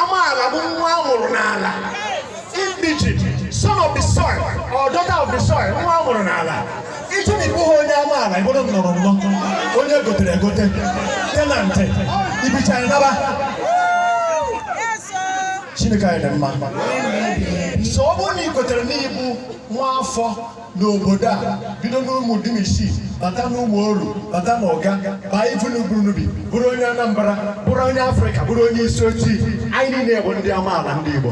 Amaala bụ nwa a mụrụ n'ala. Indigene, son of the soil or daughter of the soil, nwa a mụrụ n'ala. Ị chee na ị bụghị onye amaala, ị bụrụ nnọrọ nnọ, onye gotere egote, tenantị, i bichaa naba. Chineke anyị dị mma. So ọ bụrụ na ị kwetere na ị bụ nwa afọ n'obodo a bido n'ụmụ dim isii bata n'ụmụ oru bata n'ụga baa ifu n'uburunubi bụrụ onye anambra bụrụ onye afrịka bụrụ onye isi ojii anyị niile bụ ndị amaala ndị igbo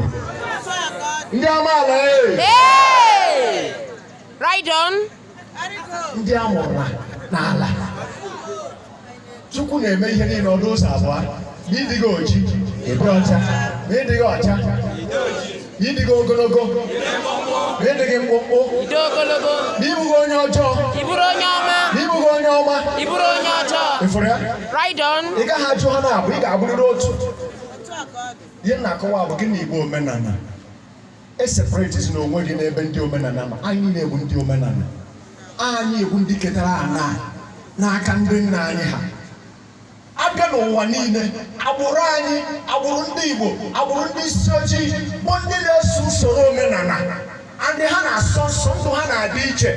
ndị amaala ee Right on. ndị a mụrụ n'ala chukwu na-eme ihe niile ọ dụ ụzọ abụọ ma ị dịghị oji ị dị ọcha ma ị dịghị ọcha ị dịghị ogologo ma ị dịghị mkpụmkpụ ma ị bụghị onye ọjọọ ma ị bụghị onye ọma ị fụrụ ya ị gaghị abụ ha n'abụọ ị ga-abụrịrị otu ihe m na-akọwa bụ gịnị bụ omenala eseparatezina onwe gị n'ebe ndị omenala ma anyị na-ekwu ndị omenala anyị ekwu ndị ketara ana n'aka ndị nna anyị ha a bịa n'ụwa niile agbụrụ anyị agbụrụ ndị Igbo agbụrụ ndị isi ojii bụ ndị na-eso usoro omenala ndị ha na-asọ nsọ ndụ ha na-adị iche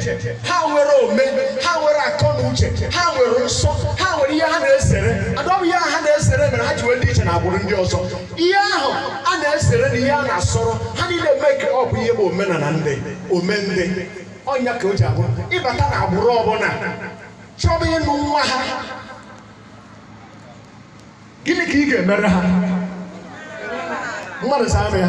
ha nwere ome ha nwere akọ na uche ha nwere nsọ ha nwere ihe ha na-ezere and ọ bụ ihe ha na-ezere mere ha ji wee dị iche na agbụrụ ndị ọzọ ihe ahụ a na-ezere na ihe a na-asọrọ ha niile mee ka ọ bụ ihe bụ omenala ndị ome ndị ọ ya ka o ji abụ ị bata na agbụrụ ọ bụla chọba ịnụ nwa ha gịnị ka ị ga-emere ha mmadụ zaa m ya